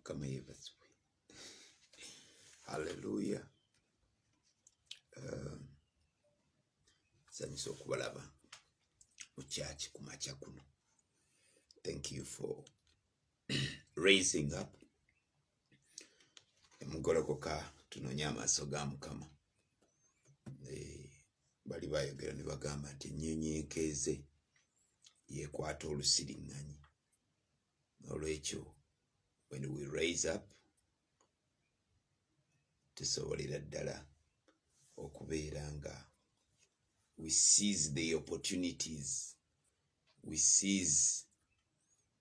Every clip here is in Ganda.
kama hivyo asubuhi. Haleluya. Um, sanyusa okubalaba mu kyaki ku makya kuno. Thank you for raising up emugolokoka tunonye amaaso ga mukama eh, bali bayogera ne bagamba nti ennyonyi ekeeze yekwata olusiriŋŋanyi olwekyo when we raise up tusobolera ddala okubeera nga we seize the opportunities we seize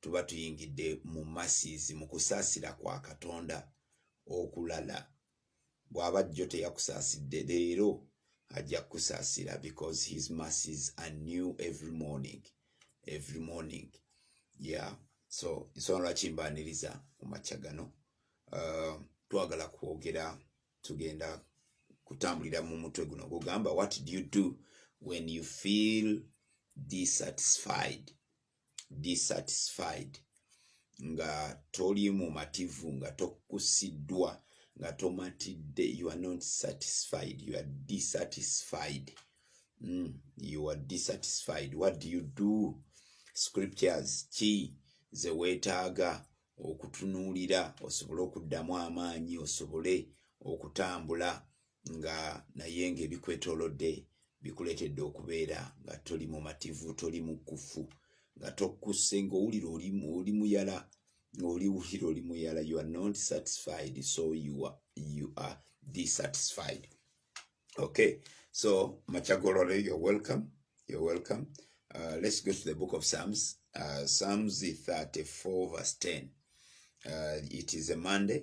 tuba tuyingidde mu masiizi mu kusaasira kwa katonda okulala bw'aba jjo teyakusaasidde leero ajja kukusaasira because his masies are new every morning every morning yeah so nsona lwaki mbaniriza mu makya gano uh, twagala kwogera tugenda kutambulira mu mutwe guno gugamba what do you do when you feel dissatisfied dissatisfied nga toli mumativu nga tokusiddwa nga tomatidde you are not satisfied you are dissatisfied mm, you are dissatisfied what do you do scriptures ki ze weetaaga okutunuulira osobole okuddamu amaanyi osobole okutambula nga naye nga ebikwetolodde bikuleetedde okubeera nga toli mumativu toli mukufu nga tokusse ngaowulira oli muyala ngaoli wulira oli muyala you are not satisfied so you are, you are dissatisfied okay so machagolore you're welcome you're welcome uh, let's go to the book of psalms uh, psalms 34 verse 10 uh, it is a monday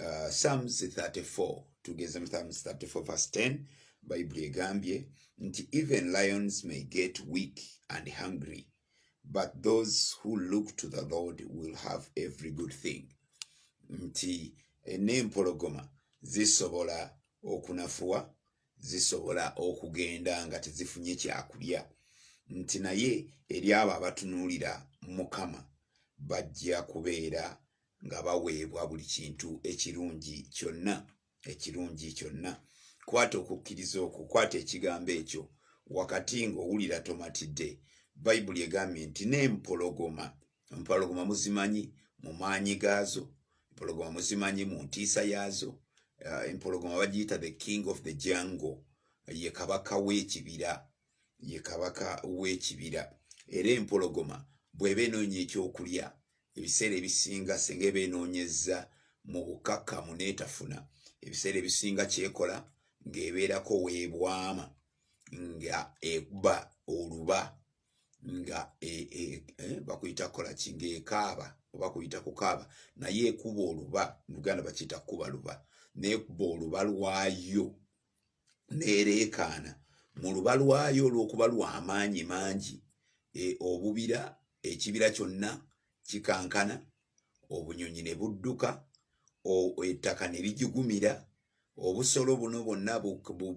uh, psalms 34 tugeze mu psalms 34 verse 10 bible egambye nti even lions may get weak and hungry but those who look to the lord will have every good thing nti eh, n'empologoma zisobola okunafuwa zisobola okugenda nga tezifunye kyakulya nti naye eri abo abatunuulira mukama bajja kubeera nga baweebwa buli kintu ekirungi kyonna ekirungi kyonna kwata okukkiriza okwo kwata ekigambo ekyo wakati ng'owulira tomatidde bayibuli egambye nti n'empologoma empologoma muzimanyi mu maanyi gaazo empologoma muzimanyi mu ntiisa yaazo eh, empologoma bagiyita the king of the jungle ye kabaka w'ekibira ye kabaka w'ekibira era empologoma bw'eba enoonya ekyokulya ebiseera ebisinga singa eba enoonyezza mu bukakamu n'etafuna ebiseera ebisinga kyekola ng'ebeerako weebwama nga ekuba oluba nga e, e, e, bakuyita kukola ki ng'ekaaba oba kuyita kukaaba naye ekuba oluba luganda bakiyita kukuba luba n'ekuba oluba lwayo neereekaana mu luba lwayo olw'okuba lwa maanyi mangi e, obubira ekibira kyonna kikankana obunyonyi ne budduka ettaka ne ligigumira obusolo buno bwonna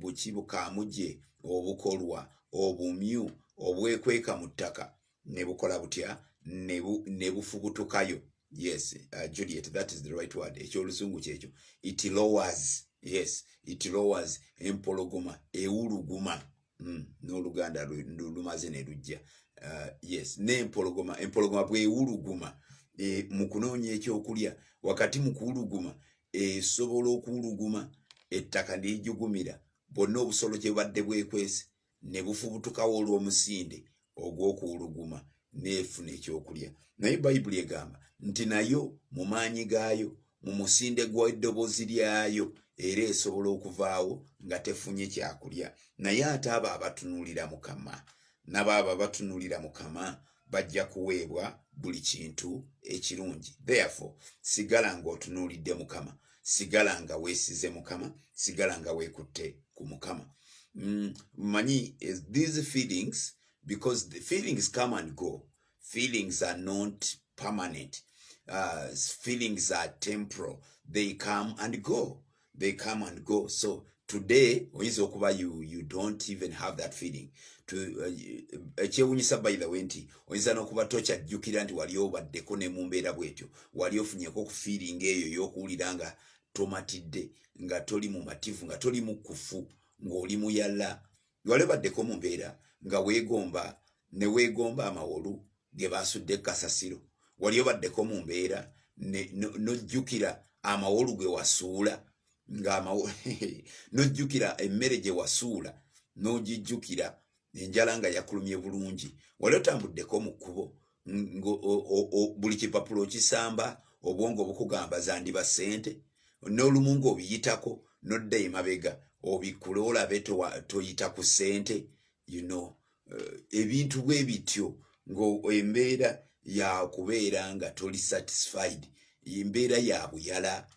buki bukaamuje obukolwa obumyu obwekweka mu ttaka ne bukola butya ne bufubutukayo yes uh, juliet that is the right word ekyolusungu kyekyo it lowers yes it lowers empologoma ewuluguma mm, n'oluganda lumaze ne lujja uh, yes nempologoma empologoma bwewuluguma e, mu kunoonya ekyokulya wakati mu kuwuluguma esobola okuwuluguma ettaka neyijugumira bwonna obusolo kyebadde bwekwese ne bufubutukawo olw'omusinde ogw'okuwuluguma n'efuna ekyokulya naye bayibuli egamba nti nayo mu maanyi gaayo mu musinde gw'eddoboozi lyayo era esobola okuvaawo nga tefunye kyakulya naye ate abo abatunuulira mukama nabo abo abatunulira mukama bajja kuweebwa buli kintu ekirungi therefore sigala ng'otunuulidde mukama sigala nga weesize mukama sigala nga weekutte ku mukama mm, manyi eh, these feelings because the feelings come and go feelings are not permanent uh, feelings are temporal they come and go they come and go so today oyinza okuba you, you don't even have that feeling uh, ekyewunyisa uh, by the way nti oyinza nokuba tokyajjukira nti wali obaddeko ne mumbeera bwetyo wali ofunyeko okufiiringa eyo yokuwulira nga tomatidde nga toli mumativu nga toli mukufu ngaoli muyala wali obaddeko mu mbeera nga weegomba ne weegomba amawolu ge baasudde kasasiro wali obaddeko mu mbeera n'ojjukira amawolu ge wasuula nga n'ojjukira emmere gye wasuula n'ogijjukira enjala nga yakulumye bulungi wali otambuddeko mu kkubo buli kipapula okisamba obwongo obukugamba zandiba sente n'olumu nga obiyitako nodda emabega obikkule olabe toyita ku sente you know eh, ebintu bwe bityo ngaembeera yakubeera nga toli satisfied embeera ya buyala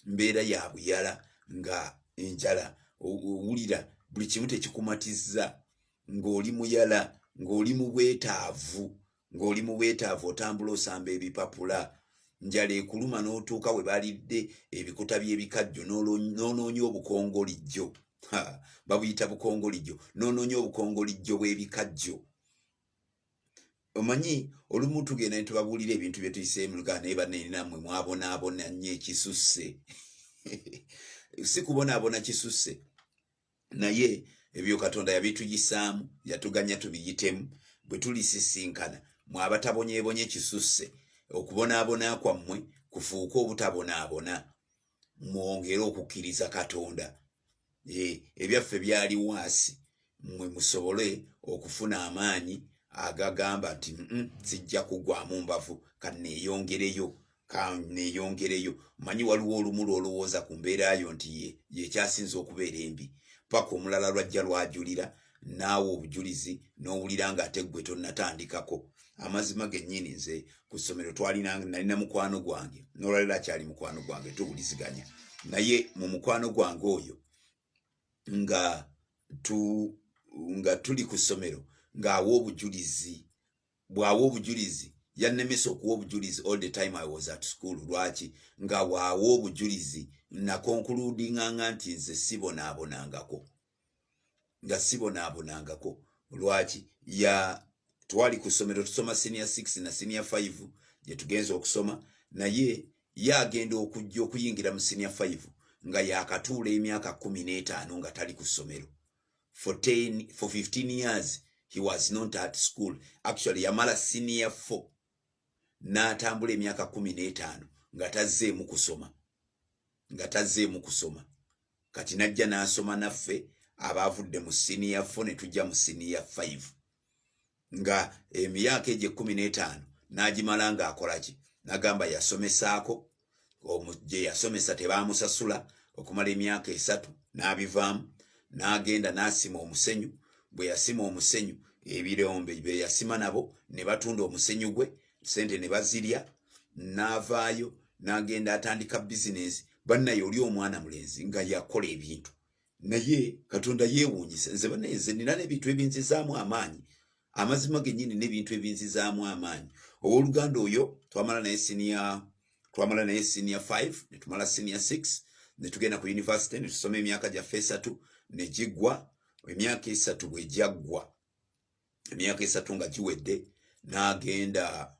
mbeera ya buyala nga enjala owulira buli kimu tekikumatiza ng'oli muyala ng'oli mu bwetaavu ng'oli mu bwetaavu otambula osamba ebipapula njala ekuluma n'otuuka we balidde ebikuta by'ebikajjo n'onoonya obukongolijjo babuyita bukongolijjo n'onoonya obukongolijjo bw'ebikajjo omanyi olumu tugenda netubabuulira ebintu byetuyiseemu lugaa naye banenamwe mwabonaabona nnyo ekisusse si kubonaabona kisusse naye ebyo katonda yabituyisaamu yatuganya tubiyitemu bwe tulisisinkana mwabatabonyebonye kisusse okubonaabona kwammwe kufuuke obutabonaabona mwongere okukkiriza katonda eh, ebyaffe byali waasi mwe musobole okufuna amaanyi agagamba nti sijja kugwamu mbavu kaneeyongereyo kaneyongereyo manyi waliwo olumu lwolowooza ku mbeera yo nti ye yekyasinza okubeera embi paka omulala lwajja lwajulira naawe obujulizi n'owulira nga ate ggwe tonnatandikako amazima gennyini nze ku ssomero twalina nalina mukwano gwange nolwaliro akyali mukwano gwange tuwuliziganya naye mu mukwano gwange oyo nga tu nga tuli ku ssomero ng'awa obujulizi bwawa obujulizi yannemesa okuwa obujulizi all the time i was at school lwaki nga waawa obujulizi nakonkuludinganga nti nze sibonaabonangako nga sibonaabonangako lwaki ya twali ku ssomero tusoma senior six na senior five gye tugenza okusoma naye ye agenda okujja okuyingira mu senior five nga yakatuula emyaka kumi n'etaano nga tali ku ssomero for 10 for 15 years he was not at school actually yamala senior 4 n'atambula emyaka kumi n'etaano nga tazzeemu kusoma nga tazzeemu kusoma kati najja n'asoma naffe abaavudde mu siniya fo ne tujja mu siniya 5 nga emyaka egyo ekkumi n'etaano n'agimala ng'akola ki nagamba yasomesaako gye yasomesa tebaamusasula okumala emyaka esatu n'abivaamu n'agenda n'asima omusenyu bwe yasima omusenyu ebirombe bye yasima nabo ne batunda omusenyu gwe sente ne bazirya n'avaayo n'agenda atandika bizinensi bannaye oli omwana mulenzi nga yakola ebintu naye katonda yeewuunyisa nze banenze nina n'ebintu ebinzizaamu amaanyi amazima gennyini n'ebintu ebinzizaamu amaanyi ow'oluganda oyo twamala naye siniya twamala naye siniya 5 ne tumala siniya 6 ne tugenda ku yunivasite ne tusoma emyaka gyaffe esatu ne giggwa emyaka esatu bwe gyaggwa emyaka esatu nga giwedde n'agenda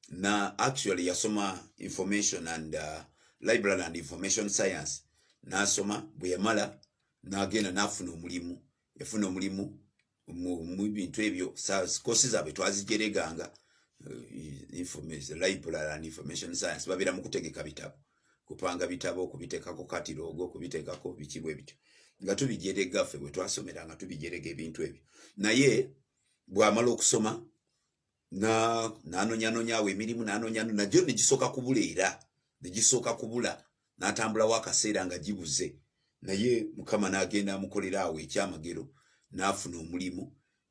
na actually yasoma information and uh, library and information science n'asoma bwe yamala n'agenda n'afuna omulimu yafuna omulimu mu bintu ebyo kosi zaabwe twazijereganga uh, library and information science babeera mu kutegeka bitabo kupanga bitabo okubitekako katiroogo okubitekako biki bwe bityo nga tubijerega ffe bwe twasomera nga tubijerega ebintu ebyo naye bwamala okusoma nanonyanonyawo emirimu nanonyano nagyo negisooka kubula era negisooka kubula natambulawo akaseera nga gibuze naye mukama nagenda amukolera awo ekyamagero nafuna omulimu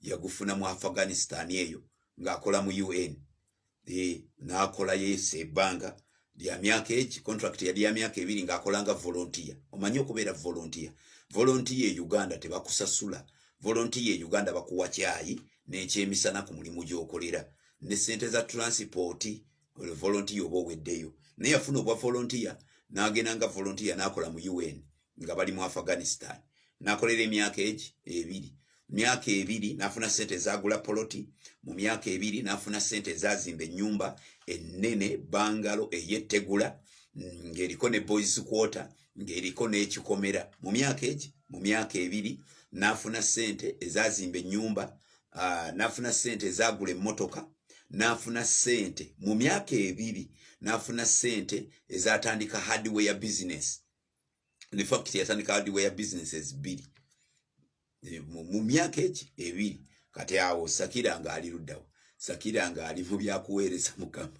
yagufuna mu afghanistan eyo ng'akola mu un eh, nakolayo esa ebbanga lya myaka eki contract yali ya myaka ebiri ng'akolanga volontiya omanyi okubeera volontiya volontiya e uganda tebakusasula volontiya e uganda bakuwa kyayi n'ekyemisana ku mulimu gy'okolera ne sente za transipooti volontiya oba oweddeyo naye yafuna obwa volontiya n'agenda nga volontiya n'akola mu un nga bali mu afghanistan nakolera emyaka egi ebiri myaka ebiri nafuna sente ezagula poloti mu myaka ebiri nafuna sente ezazimba enyumba enene bangalo eyetegula mm, ngaeriko ne boys quarter ngaeriko nekikomera mu myaka egi mu myaka ebiri nafuna sente ezazimba enyumba ah, nafuna sente ezagula emotoka nafuna sente mu myaka ebiri nafuna sente ezatandika hardware business in fact yatandika hardware businesses bbiri eh, mu myaka eki ebiri kati awo sakira nga ali luddawo sakira nga ali mu byakuweereza mukama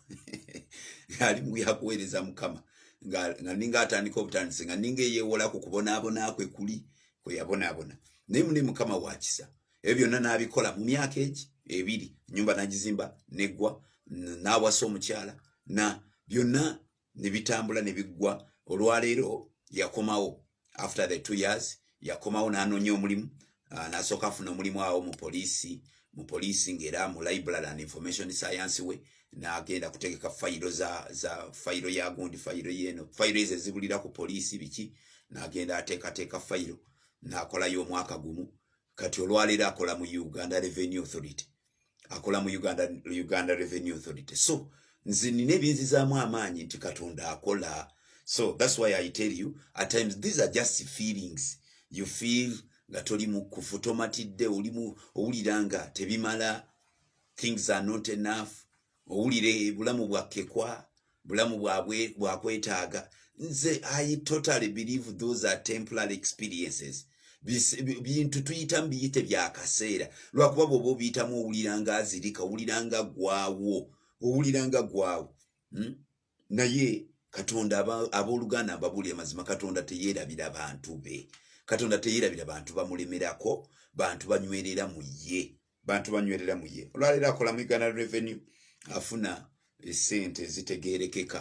ali mu byakuweereza mukama nga ninga atandika obutandisi nga ninga eyewola ku kubonaabona kwe kuli kwe yabonaabona naye mune mukama wakisa ebyo byonna n'abikola mu myaka eki ebiri nyumba nagizimba neggwa nawasa omukyala na byonna ne bitambula ne biggwa olwaleero yakomawo after the two years yakomawo n'anoonya omulimu ah, n'asooka afuna omulimu awo mu poliisi mu poliisi ng'era mu library and information science we n'agenda kutegeka fayiro za za fayiro ya gundi fayiro yeeno fayiro ezo ezibulira ku poliisi biki n'agenda ateekateeka fayiro n'akolayo omwaka gumu kati olwaleero akola mu uganda revenue authority akola mu uganda, uganda revenue authority so nze nina ebinzizaamu amaanyi nti katonda akola so thats why i tell you at times these are just feelings you feel nga toli mukufu tomatidde olimu owulira nga tebimala things are not enough owulire bulamu bwakkekwa bulamu bwabwe bwakwetaaga nze i totally believe those are temporary experiences bintu tuyitamu biyite byakaseera lwakuba bwoba obiyitamu owulira nga azirika owulira nga gwawo owulira nga gwawo hmm? naye katonda abooluganda mbabuuli amazima katonda teyerabira bantu be katonda teyerabira bantu bamulemerako bantu banywerera mu ye bantu banywerera mu ye olwaleero akola mu uganda revenue afuna esente zitegerekeka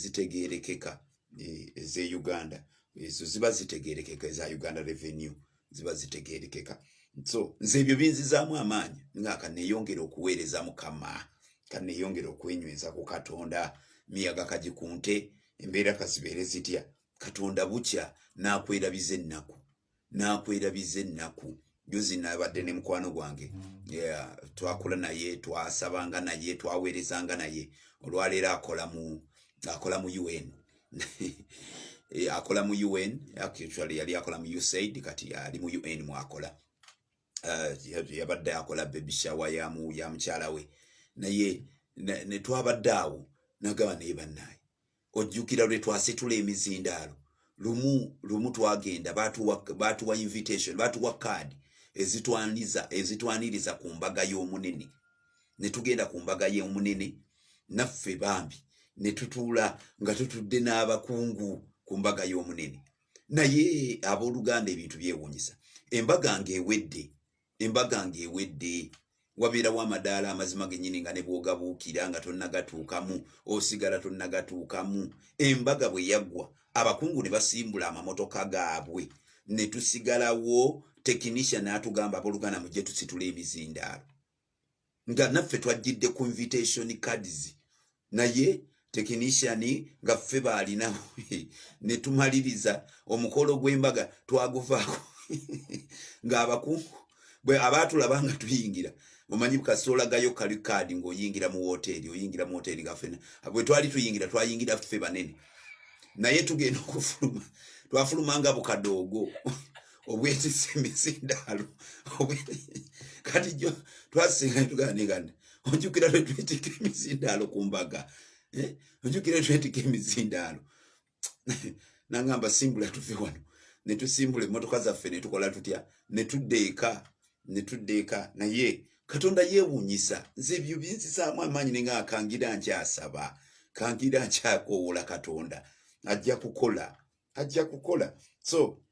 zitegerekeka e, eze uganda ezo ziba zitegerekeka eza uganda revenue ziba zitegerekeka so nze ebyo binzizaamu amaanyi nga kaneyongera okuweereza mukama kaneyongera okwenyweza ku katonda miyaga kaji ku nte embeera kazibeere zitya katonda bukya n'akwerabiza ennaku nakwerabiza ennaku juzi nabadde ne mukwano gwange twakula naye twasabanga naye twaweerezanga naye olwaleero akola mu akola mu un eh, akola mu un actually yali akola mu usaid kati ali mu un mwakola eh, yabadde akola bebishawa yamukyala we naye netwabadde awo nagaba naye bannaye ojjukira lwe twasitula emizindaalo lumu lumu twagenda baatuwa invitation baatuwa kaadi ezitwaniza ezitwaniriza ku mbaga y'omunene ne tugenda ku mbaga y'omunene naffe bambi ne tutuula nga tutudde n'abakungu ku mbaga y'omunene naye abooluganda ebintu byewuunyisa embaga ng'ewedde embaga ng'ewedde wabeerawo amadaala amazima gennyini nga ne bwogabuukira nga tonnagatuukamu osigala tonnagatuukamu embaga bwe yaggwa abakungu ne basimbula amamotoka gaabwe ne tusigalawo tekinisha n'atugamba aboluganda mujje tusitula emizindaalo nga naffe twajjidde ku invitation cards naye technician nga ffe baalina ne tumaliriza omukolo gw'embaga twaguvaako ng'abakungu bwe abaatulaba nga tuyingira omanyi kasolagayo kali kaadi ng'oyingira mu wooteeri oyingira mu wooteeri nga ffena bwe twali tuyingira twayingira ffe banene naye tugenda okufuluma twafuluma nga bukadoogo obwetisa emisindaalo kati jo twasinga netuganegana ojukira lwetwetika emisindaalo ku mbaga eh? ojukira lwetwetika emisindaalo nangamba simbula tuve wano netusimbula emotoka zaffe netukola tutya netudda eka netudda eka naye katonda yewunyisa nze ebyo binzisaamu amaanyi ninga akangira nkyasaba kangira nkyakoowola katonda ajja kukola ajja kukola so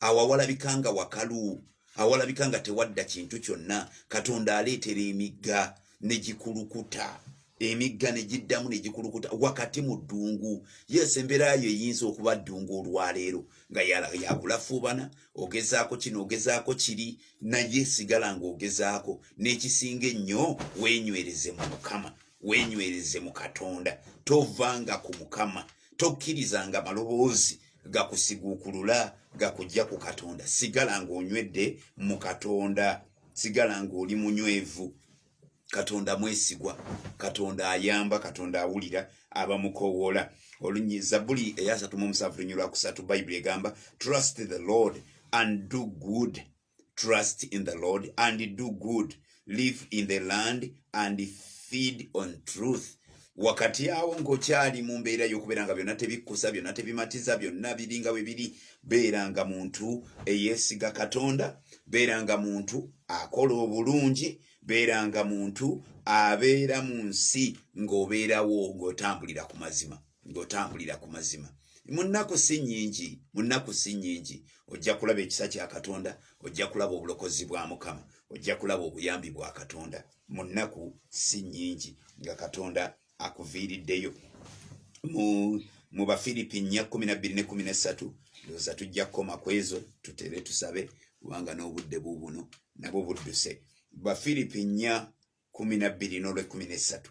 awo awalabika nga wakalu awalabika nga tewadda kintu kyonna katonda aleetera emigga ne gikulukuta emigga ne giddamu ne gikulukuta wakati mu ddungu yes embeera yo eyinza okuba ddungu olwaleero nga yakulafuubana ogezaako kino ogezaako kiri naye sigala ng'ogezaako n'ekisinga ennyo wenywereze mu mukama wenywereze mu katonda tovanga ku mukama tokkiriza nga maloboozi gakusiguukulula gakujja ku katonda sigala ng'onywedde mu katonda sigala ng'oli munywevu katonda mwesigwa katonda ayamba katonda awulira abamukowoola olunyi zabuli eyasatu mu omusanvu lunyirwa kusatu bayibuli egamba trust the lord and do good trust in the Lord and do good, live in the land and feed on truth. wakati awo ng'okyali mu mbeera y'okubeera nga byonna tebikkusa byonna tebimatiza byonna biringa bwe biri beera nga muntu eyeesiga katonda beera nga muntu akola obulungi beera nga muntu abeera mu nsi ng'obeerawo ng'otambulira ku mazima ng'otambulira ku mazima mu nnaku si nnyingi mu nnaku si nnyingi ojja kulaba ekisa kya katonda ojja kulaba obulokozi bwa mukama ojja kulaba obuyambi bwa katonda mu nnaku si nnyingi nga katonda akuviiriddeyo mu mu bafiripi nnya kumi nabbiri ne kumi nessatu ndowooza tujja kukoma ku ezo tutere tusabe kubanga n'obudde buubuno nabwo budduse bafiripi nnya kumi nabbiri n'olwekumi nessatu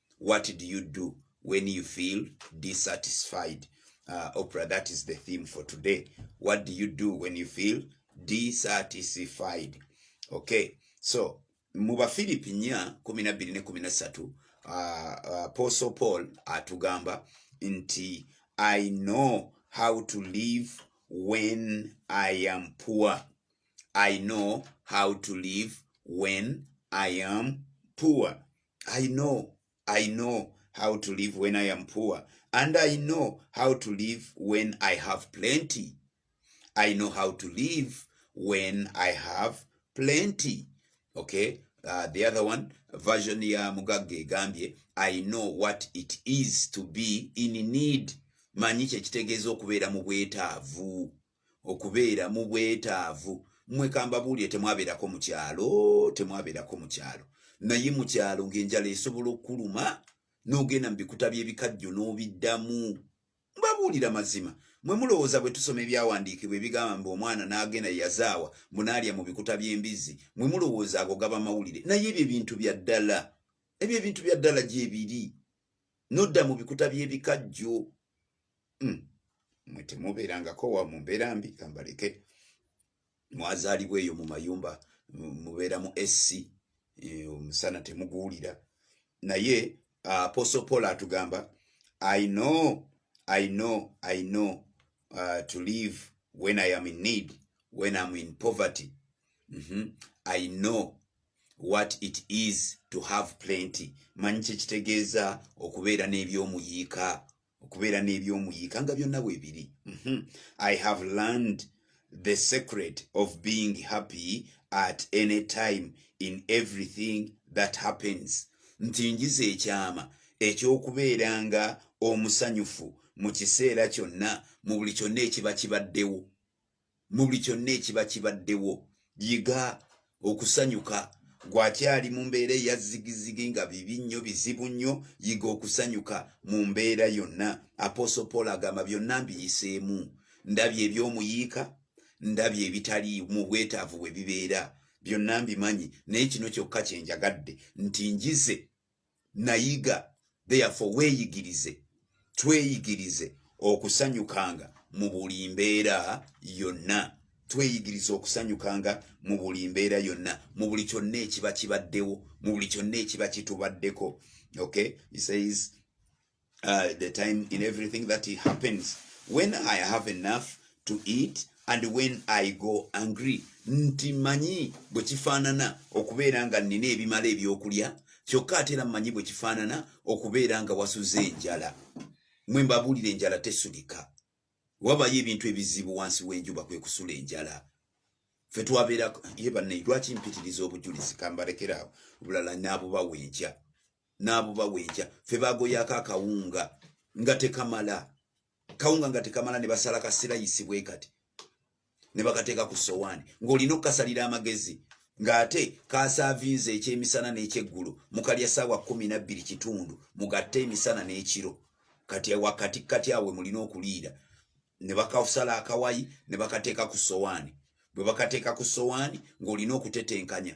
what do you do when you feel dissatisfied uh, opera that is the theme for today what do you do when you feel dissatisfied okay so mu bafilipi nya kumi na bbiri ne kumi na ssatu uh, uh, apostle paul atugamba nti i know how to live when i am poor i know how to live when i am poor I know, I know how to live when I am poor and I know how to live when I have plenty. I know how to live when I have plenty. Okay? Uh, the other one version ya Mugagge egambye I know what it is to be in need manyi kyekitegeeza okubeera mu bwetaavu okubeera mu bwetaavu mmwe kambabuulire temwabeerako mu kyalo temwabeerako mu kyalo naye mu kyalo ng'enjala esobola okukuluma n'ogenda mu bikuta by'ebikajjo n'obiddamu mbabuulira mazima mwe mulowooza bwe tusoma ebyawandiikibwa ebigamba mbu omwana n'agenda yazaawa munaalya mu bikuta by'embizzi mwe mulowooza ago gaba mawulire naye ebyo ebintu bya ddala ebyo ebintu bya ddala gyebiri nodda mu bikuta by'ebikajjo hmm. mwe temubeerangako wa mu mbeera mbi kambaleke mwazaalibwa eyo mu mayumba mubeera mu sc eh, omusana temuguwulira naye ah, apostle paul atugamba i know i know i know uh, to live when i am in need when am in poverty mm -hmm. i know what it is to have plenty manyi kyekitegeeza okubeera n'ebyomuyiika okubeera n'ebyomuyiika nga byonna bwebiri mhm. i have learned the secret of being happy at any time in everything that happens nti njiza ekyama ekyokubeera nga omusanyufu mu kiseera kyonna mu buli kyonna ekiba kibaddewo mu buli kyonna ekiba kibaddewo yiga okusanyuka gwakyali mu mbeera eya zigizigi nga bibi nnyo bizibu nnyo yiga okusanyuka mu mbeera yonna aposo paul agamba byonna mbiyiseemu ndabye ebyomuyiika ndabye ebitali mu bwetaavu bwe bibeera byonna mbimanyi naye kino kyokka kyenjagadde nti njize nayiga therefore weeyigirize tweyigirize okusanyukanga mu buli mbeera yonna tweyigiriza okusanyukanga mu buli mbeera yonna mu buli kyonna ekiba kibaddewo mu buli kyonna ekiba kitubaddeko okay he says uh, the time in everything that it happens when i have enough to eat and when i go angry nti manyi bwe kifaanana okubeera nga nnina ebimala ebyokulya kyokka ate era manyi bwe kifaanana okubeera nga wasuze enjala mwe mbabuulira enjala tesulika wabayo ebintu ebizibu wansi w'enjuba kwe kusula enjala fe twabeera ye bannayi lwaki mpitiriza obujulizi kambalekerawo obulala naabubawa enkya n'abubawa enkya fe bagoyaako akawunga nga tekamala kawunga nga tekamala ne basala kasirayisi bwe kati ne bakateeka ku sowaani ng'olina okukasalira amagezi ng'ate kaasaavinze ekyemisana n'ekyeggulo mukalya saawa kumi nabbiri kitundu mugatte emisana n'ekiro kati wakati kati awe mulina okuliira ne bakasala akawayi ne bakateeka ku sowaani bwe bakateeka ku sowaani ng'olina okutetenkanya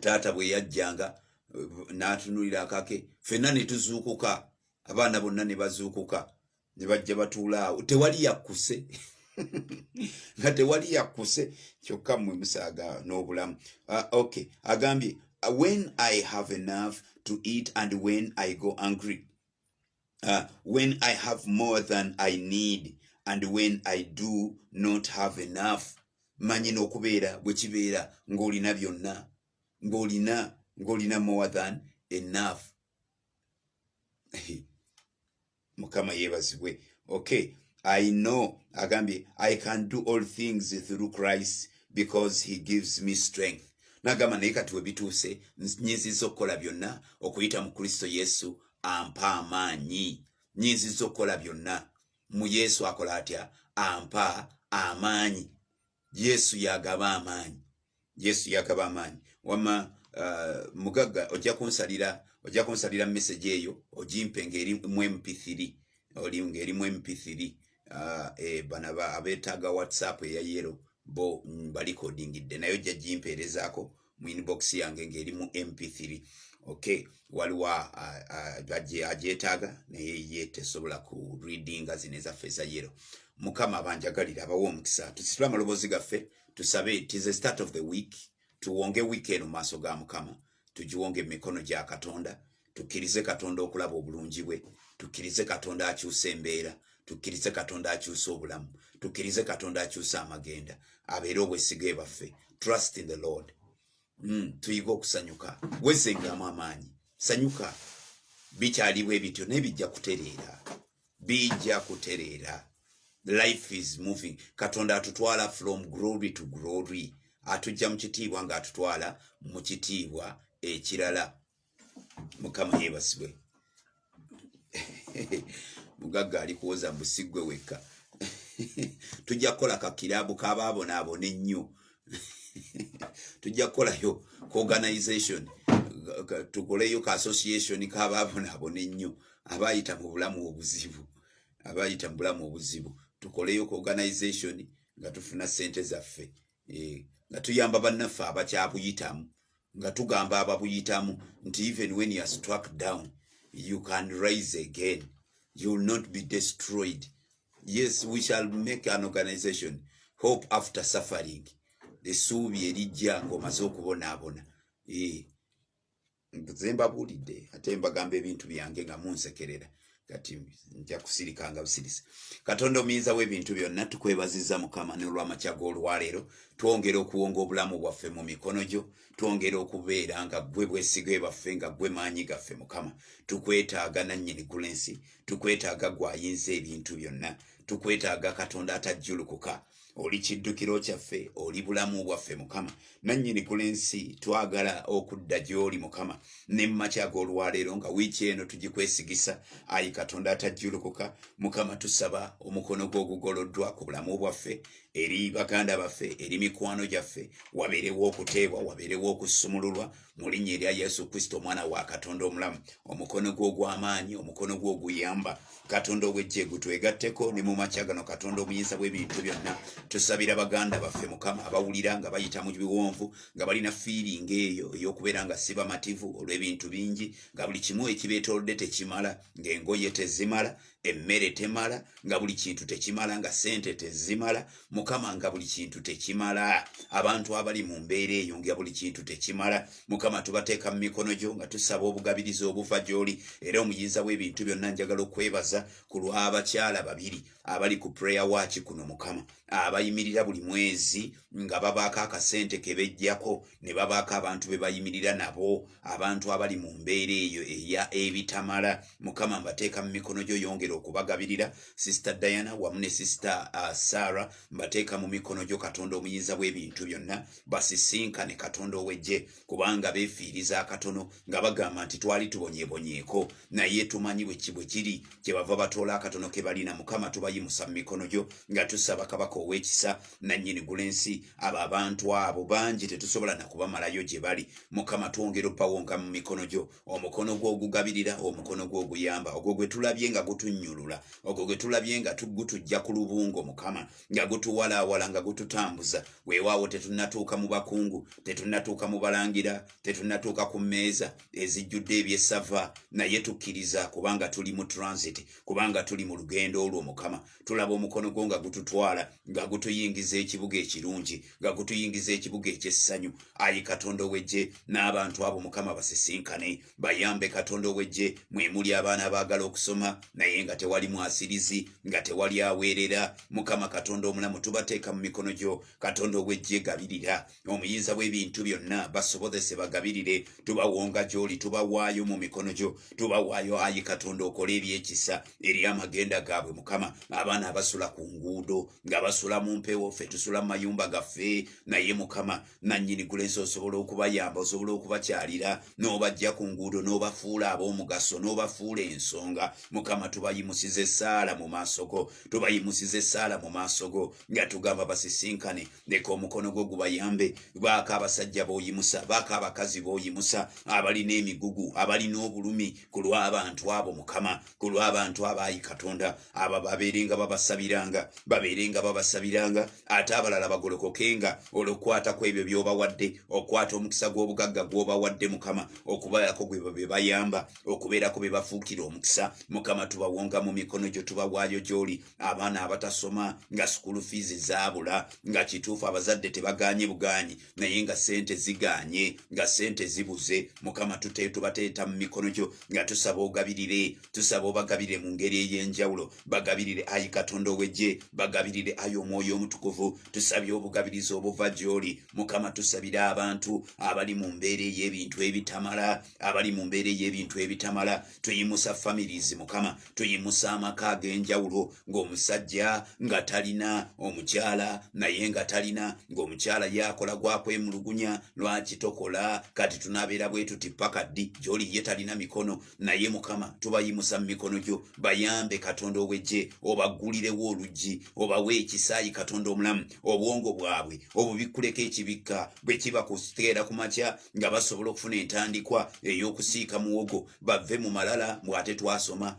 taata bwe yajjanga n'atunulira akake fenna ne tuzuukuka abaana bonna ne bazuukuka ne bajja batuula awo tewali yakkuse nga tewali yakkuse kyokka mmwe musaaga n'obulamu ah, ok agambye when i have enough to eat and when i go angry uh, when i have more than i need and when i do not have enough manyi n'okubeera bwe kibeera ng'olina byonna ng'olina ng'olina more than enough mukama yeebazibwe okay i know agambye i can do all things through christ because he gives me strength nagamba naye kati we bituuse nyinziza okukola byonna okuyita mu kristo yesu ampa amaanyi nyinziza okukola byonna mu yesu akola atya ampa amaanyi yesu yagaba amaanyi yesu yagaba amaanyi wama uh, mugagga ojja kunsalira ojja kunsalira message eyo ojimpe ngaeri mu mp3 oli ngaeri mu mp3 ah, eh, bana abetaaga whatsapp eya yero bo balikodingidde naye ojja gimpeerezaako mu inbox yange ng'eri mu mp3 okay waliwo agyetaaga naye ye tesobola ku readinga zino ezaffe eza yero mukama abanjagalire abawa omukisa tusitule amaloboozi gaffe tusabe tis a start of the week tuwonge wiiki eno maaso ga mukama tugiwonge mu mikono gya katonda tukkirize katonda okulaba obulungi bwe tukkirize katonda akyusa embeera tukkirize katonda akyusa obulamu tukkirize katonda akyusa amagenda abeere obwesiga ebaffe trust in the lord mm, tuyige okusanyuka wezengamu amaanyi sanyuka bikyaliwo ebityo naye bijja kutereera bijja kutereera life is moving katonda atutwala from glory to glory atujja mu kitiibwa ng'atutwala mu kitiibwa ekirala mukama yebasibwe mugagga ali kuwoza musigwe wekka tujja kukola kakirabu kabaabonaabona ennyo tujja kukolayo kuorganization tukoleyo ka association kabaabonaabona ennyo abayita mu bulamu obuzibu abayita mu bulamu obuzibu tukoleyo kuorganization nga tufuna sente zaffe eh, nga tuyamba bannaffe abakyabuyitamu nga tugamba ababuyitamu nti even when you are struck down you can rise again you will not be destroyed yes we shall make an organization hope after suffering esuubi erijja ngaomaze okubonaabona eh. nze mbabuulidde ate mbagamba ebintu byange nga munsekerera kati nja kusirika nga busirise katonda omuyinza w'ebintu byonna tukwebaziza mukama n'olwamakya g'olwaleero twongera okuwonga obulamu bwaffe mu mikono gyo twongera okubeera nga gwe bwesige baffe nga gwe maanyi gaffe mukama tukwetaaga nannyini gula ensi tukwetaaga gwayinza ebintu byonna tukwetaaga katonda atajjulukuka oli kiddukiro kyaffe oli bulamu bwaffe mukama nannyini ku lensi twagala okudda gy'oli mukama ne mumakya g'olwaleero nga wiiki eno tugikwesigisa ayi katonda atajjulukuka mukama tusaba omukono gw'ogugoloddwa ku bulamu bwaffe eri baganda baffe eri mikwano gyaffe wabeerewo okuteebwa wabeerewo okusumululwa mu linnya erya yesu kristo omwana wa katonda omulamu omukono gwe ogw'amaanyi omukono gwe oguyamba katonda ow'eggye gutwegatteko ne mu makya gano katonda omuyinza bw'ebintu byonna tusabira baganda baffe mukama abawulira nga bayita mu biwonvu nga balina fiiringa eyo ey'okubeera nga si bamativu olw'ebintu bingi nga buli kimu ekibeetoolodde tekimala ng'engoye tezimala emmere temala nga buli kintu tekimala nga sente tezimala mukama nga buli kintu tekimala abantu abali mu mbeera eyo nga buli kintu tekimala mukama tubateeka mu mikono gyo nga tusaba obugabirizi obuva gyoli era omuyinza w'ebintu byonna njagala okwebaza ku lw'abakyala babiri abali ku prayer waaki kuno mukama abayimirira buli mwezi nga babaako akasente kebejjako ne babaako abantu be bayimirira nabo abantu abali mu mbeera eyo eya ebitamala mukama mbateeka mu mikono gyo yongera okubagabirira sisita diana wamu ne sisita uh, sara mbateeka mu mikono gyo katonda omuyinza bw'ebintu byonna basisinkane katonda owejje kubanga beefiiriza akatono nga bagamba nti twali tubonyebonyeeko naye tumanyi bweki bwe kiri kye bava batoola akatono ke balina mukama tubayimusa mu mikono gyo nga tusaba kabaka ow'ekisa nannyini gula ensi abo abantu abo bangi tetusobola na kubamalayo gye bali mukama twongera opawonka mu mikono gyo omukono gwo ogugabirira omukono gwo oguyamba ogwo gwe tulabye nga gutunnyulula ogwo gwe tulabye nga gutujja ku lubungo mukama nga gutuwalaawala nga gututambuza weewaawo tetunnatuuka mu bakungu tetunnatuuka mu balangira tetunnatuuka ku mmeeza ezijjudde ebyessava naye tukkiriza kubanga tuli mu transit kubanga tuli mu lugendo olwo mukama tulaba omukono gwo nga gututwala nga gutuyingiza ekibuga ekirungi nga gutuyingiza ekibuga ekyessanyu ayi katonda owejje n'abantu abo mukama basisinkane bayambe katonda owejje mwemuli abaana abaagala okusoma naye nga tewali mwasirizi nga tewali aweerera mukama katonda omulamu tubateeka mu mikono gyo katonda owejje gabirira omuyinza w'ebintu byonna basobozese bagabirire tubawonga gy'oli tubawaayo mu mikono gyo tubawaayo ayi katonda okola ebyekisa eri amagenda gaabwe mukama abaana abasula ku nguudo nga basula mu mpewo ffe tusula mu mayumba gaffe naye mukama nannyini gulensi osobola okubayamba osobola okubakyalira n'obajja ku nguudo n'obafuula ab'omugaso n'obafuula ensonga mukama tubayimusiza essaala mu maaso go tubayimusiza essaala mu maaso go nga tugamba basisinkane leka omukono gwo gubayambe baako abasajja boyimusa baako abakazi boyimusa abalina emigugu abalina obulumi ku lw'abantu abo mukama ku lw'abantu abaayi katonda abo babeere nga babasabiranga babeere nga babasabiranga ate abalala bagolokokenga olwokukwata ku ebyo by'obawadde okukwata omukisa gw'obugagga gw'obawadde mukama okubeerako gwe be bayamba okubeerako be bafuukira omukisa mukama tubawonga mu mikono gyo tubawaayo gy'oli abaana abatasoma nga sukulu fiizi zaabula nga kituufu abazadde tebaganye buganyi naye nga sente ziganye nga sente zibuze mukama tubateeta mu mikono gyo nga tusaba ogabirire tusaba obagabirire mu ngeri ey'enjawulo bagabirire ayi katonda owegye bagabirire ayi omwoyo omutukuvu tusabye obugabirizi obuva gyoli mukama tusabire abantu abali mu mbeera ey'ebintu ebitamala abali mu mbeera ey'ebintu ebitamala tuyimusa families mukama tuyimusa amaka ag'enjawulo ng'omusajja nga talina omukyala naye nga talina ng'omukyala yakola gwakwemulugunya lwaki tokola kati tunabeera bwe tuti paka ddi gyoli ye talina mikono naye mukama tubayimusa mu mikono gyo bayambe katonda owejje obaggulirewo oluggi obawe ekisaayi katonda omulamu obwongo bwabwe obubikkuleko ekibikka bwe kiba kuteera ku makya nga basobola okufuna entandikwa ey'okusiika muwogo bave mu malala mbu ate twasoma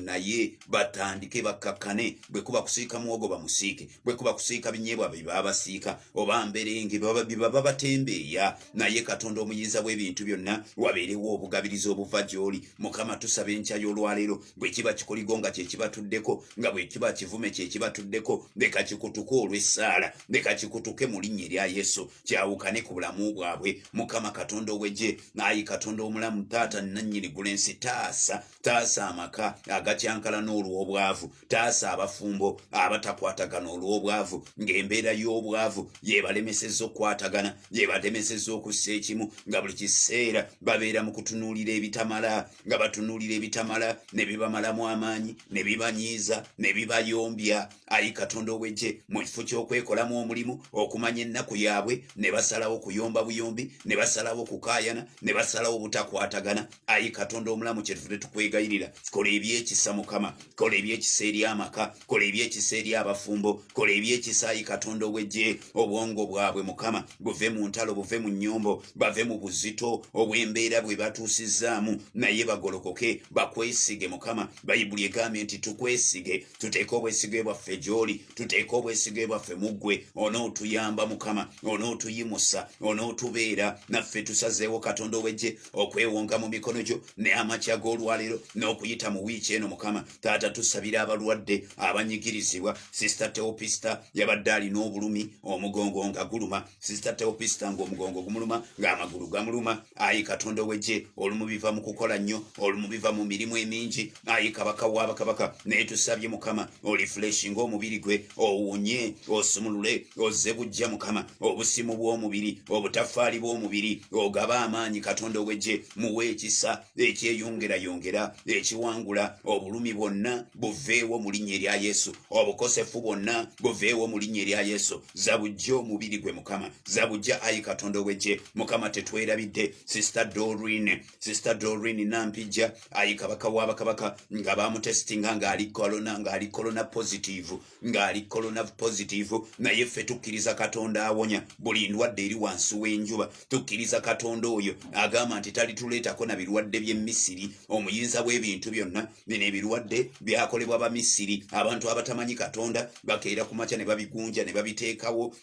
naye batandike bakkakkane bwekuba kusiika muwogo bamusiike bwekuba kusiika binyeebwa bebabasiika oba mberenge baba batembeeya naye katonda omuyinza bw'ebintu byonna wabeerewo obugabiriza obuva gy'oli mukama tusaba enkya y'olwaleero bwekiba kikoligo nga kyekibatuddeko nga bwekiba kivume kyekibatuddeko leka kikutuke olw'essaala leka kikutuke mu linnya erya yesu kyawukane ku bulamu bwabwe mukama katonda owegye ayi katonda omulamu taata nannyini gula ensi taasa taasa amaka agakyankalana olw'obwavu taasa abafumbo abatakwatagana olw'obwavu ng'embeera y'obwavu yebalemeseza okukwatagana yebalemeseza okussa ekimu nga buli kiseera babeera mu kutunuulira ebitamala nga batunuulira ebitamala ne bibamalamu amaanyi ne bibanyiiza ne bibayombya ayi katonda ow'eggye mu kifo ky'okwekolamu omulimu okumanya ennaku yaabwe ne basalawo okuyomba buyombi ne basalawo okukaayana ne basalawo obutakwatagana ayi katonda omulamu kyetufu tetukwegayirira kola ebyekisa mukama kola ebyekisa eri amaka kola ebyekisa eri abafumbo kola ebyekisa ayi katonda ow'eggye obwongo bwabwe mukama buve mu ntalo buve mu nnyombo bave mu buzito obw'embeera bwe batuusizzaamu naye bagolokoke bakwesige mukama bayibuli egambye nti tukwesige tuteeka obwesige bwaffe gy'oli tuteeka obwesige bwaffe mu ggwe onootuyamba mukama onootuyimusa onootubeera naffe tusazeewo katonda owejje okwewonga mu mikono gyo ne amakya g'olwaleero n'okuyita mu wiiki eno mukama taata tusabira abalwadde abanyigirizibwa sisita teopista yabadde alina obulumi omugongo nga guluma sisita teopista ngaomugongo gumuluma ngaamagulu gamuluma ayi katonda owegye olumubiva mu kukola nnyo olumubiva mu mirimu emingi ayi kabaka waabakabaka naye tusabye mukama oli fuleshi ngaomubiri gwe owunye osumulule ozze bujja mukama obusimu bw'omubiri obutafaali bw'omubiri ogaba amaanyi katonda owegye muwa ekisa ekyeyongerayongera ekiwangula obulumi bwonna buveewo mu linnya erya yesu obukosefu bwonna buveewo mu linnya erya yesu zabujja omubiri gwe mukama zabujja ayi katonda owegye mukama tetwerabidde sista dorin sista dorin nampijja ayi kabaka wabakabaka nga bamutesitinga ngaali kolona ngaali kolona positive ngaali kolona positive naye ffe tukkiriza katonda awonya buli ndwadde eri wansi w'enjuba tukkiriza katonda oyo agamba nti talituleetako na birwadde by'emisiri omuyinza bw'ebintu byonna bino ebirwadde byakolebwa bamisiri abantu abatamanyi katonda bakeera ku makya ne babigunja ne babiteekawo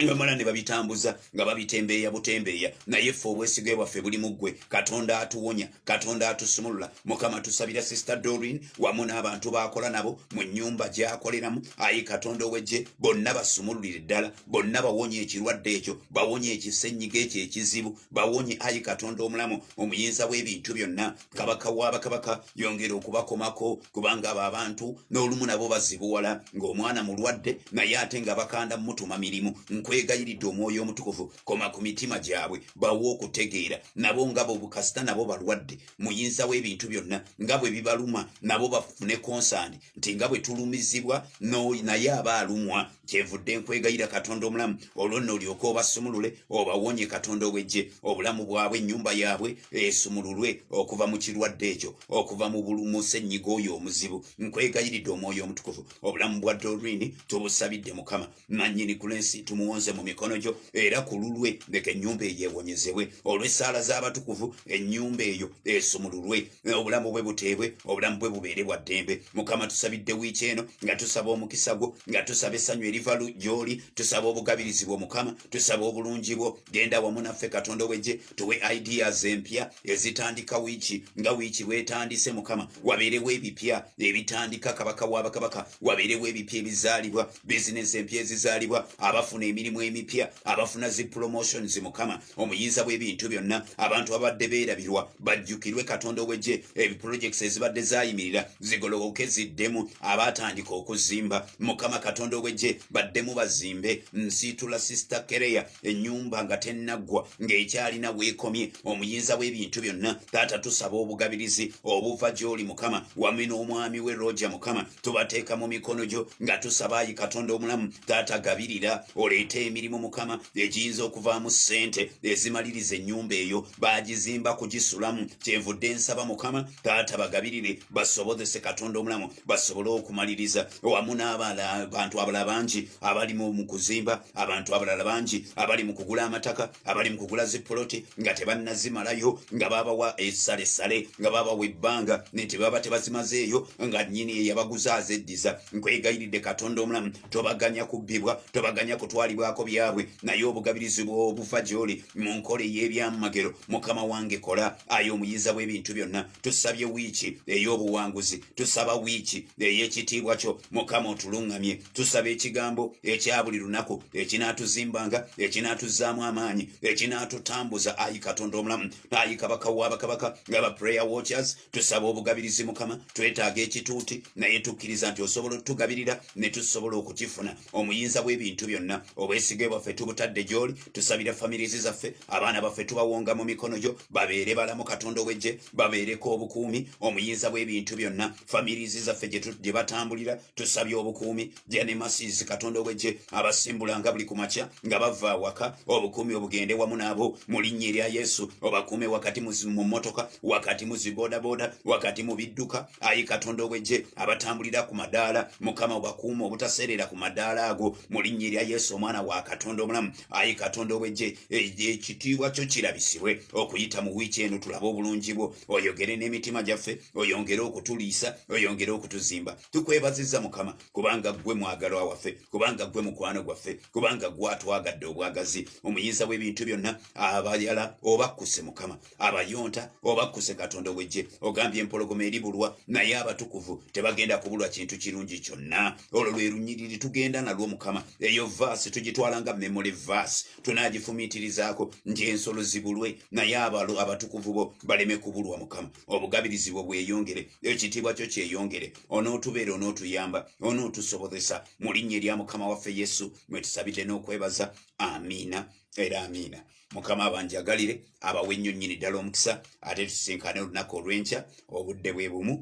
nebamala ne babitambuza nga babitembeeya butembeeya naye ffe obwesige bwaffe buli muggwe katonda atuwonya katonda atusumulula mukama tusabira sister dorin wamu n'abantu baakola nabo mu nnyumba gyakoleramu ayi katonda owejje bonna basumululire ddala bonna bawonye ekirwadde ekyo bawonye ekisenyiga ekyo ekizibu bawonye ayi katonda omulamu omuyinza w'ebintu byonna kabaka wa bakabaka yongera okubakomako kubanga abo abantu n'olumu nabo bazibuwala ng'omwana mulwadde naye ate nga bakanda mutuma mirimu nkwegayiridde omwoyo omutukuvu koma ku mitima gyabwe bawa okutegeera nabo nga bobukasita nabo balwadde muyinza w'ebintu byonna nga bwe bibaluma nabo bafune konsandi nti nga bwe tulumizibwa naye aba alumwa kyevudde nkwegayira katonda omulamu olwo nno olyoka obasumulule obawonye katonda owejje obulamu bwabwe ennyumba yaabwe esumululwe okuva mu kirwadde ekyo okuva mu bulumusennyiga oyo omuzibu nkwegayiridde omwoyo omutukuvu obulamu bwa dorini tubusabidde mukama nannyini ku lensi tumuwonze mu mikono gyo era ku lulwe leka ennyumba eyo ewonyezebwe olw'essaala z'abatukuvu ennyumba eyo esumululwe obulamu bwe buteebwe obulamu bwe bubeere bwa ddembe mukama tusabidde wiiki eno nga tusaba omukisa gwo nga tusaba essanyu eriva gy'oli tusaba obugabirizi bwo mukama tusaba obulungi bwo genda wamu naffe katonda owegye tuwe ideas empya ezitandika wiiki nga wiiki bwetandise mukama wabeerewo ebipya ebitandika kabaka w'abakabaka wabeerewo ebipya ebizaalibwa bizinensi empya ezizaalibwa abafuna emirimu emipya abafuna zi promotions mukama omuyinza bw'ebintu byonna abantu abadde beerabirwa bajjukirwe katonda owegye ebiprojects ezibadde zayimirira zigolowoke ziddemu abaatandika okuzimba mukama katonda owegye baddemu bazimbe nsiitula sister kereya ennyumba nga tennaggwa ng'ekyalina weekomye omuyinza w'ebintu byonna taata tusaba obugabirizi obuva gy'oli mukama wame n'omwami we roja mukama tubateeka mu mikono gyo nga tusaba ayi katonda omulamu taata gabirira oleete emirimu mukama egiyinza okuvaamu ssente ezimaliriza ennyumba eyo baagizimba kugisulamu kyenvudde nsaba mukama taata bagabirire basobozese katonda omulamu basobole okumaliriza wamu n'abantu abalala bangi abali mu kuzimba abantu abalala bangi abali mu kugula amataka abali mu kugula zipoloti nga tebannazimalayo nga babawa esalesale nga babawa ebbanga nti baba tebazimazeeyo nga nyini eyabaguza azeddiza nkwegayiridde katonda omulamu tobaganya kubbibwa tobaganya kutwalibwako byabwe naye obugabirizi bwobuva gyoli mu nkola ey'ebyamagero mukama wange kola aye omuyinza bw'ebintu byonna tusabye wiiki ey'obuwanguzi tusaba wiiki ey'ekitiibwa kyo mukama otuluŋŋamye tusaba ekigambo ekya buli lunaku ekinaatuzimbanga ekinaatuzzaamu amaanyi ekinaatutambuza ayi katonda omulamu ayi kabaka w'abakabaka ngaba prayer watchers tusaba obugabirizi mukama twetaaga ekituuti naye tukkiriza nti osobola otugabirira ne tusobola okukifuna omuyinza w'ebintu byonna obwesige bwaffe tubutadde gy'oli tusabira famirizi zaffe abaana baffe tubawonga mu mikono gyo babeere balamu katonda owejje babeereko obukuumi omuyinza bw'ebintu byonna famirizi zaffe gye batambulira tusabye obukuumi janemasizi katonda owejje abasimbulanga buli kumakya nga bava awaka obukuumi obugende wamu naabo mu linnya erya yesu obakuume wakati mu motoka wakati mu zibodaboda wakati mu bidduka ayi katonda ow'eggye abatambulira ku madaala mukama obakuuma obutaseerera ku madaala ago mu linnya erya yesu omwana wa katonda omulamu ayi katonda ow'eggye ekitiibwa kyo kirabisibwe okuyita mu wiiki eno tulabe obulungi bwo oyogere n'emitima gyaffe oyongere okutuliisa oyongere okutuzimba tukwebaziza mukama kubanga ggwe mwagalwa waffe kubanga ggwe mukwano gwaffe kubanga gwatwagadde obwagazi omuyinza w'ebintu byonna abayala obakkuse mukama abayonta obakkuse katonda owejje ogambye empologoma eri bulwa naye abatukuvu tebagenda kubulwa kintu kirungi kyonna olwo lwe lunyiriri tugenda nalwo mukama eyo vaasi tugitwala nga memole vaasi tunagifumiitirizaako nti ensolo zibulwe naye abalo abatukuvu bo baleme kubulwa mukama obugabirizi bwo bweyongere ekitiibwa kyo kyeyongere onootubeera onootuyamba onootusobozesa mu linnya erya mukama waffe yesu mwe tusabidde n'okwebaza amiina era amiina mukama abanjagalire abawe nnyo nnyini ddala omukisa ate tusinkane olunaku olw'enkya obudde bwe bumu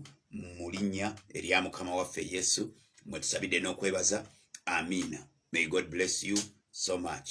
mu linnya erya mukama waffe yesu mwe tusabidde n'okwebaza amiina may god bless you so much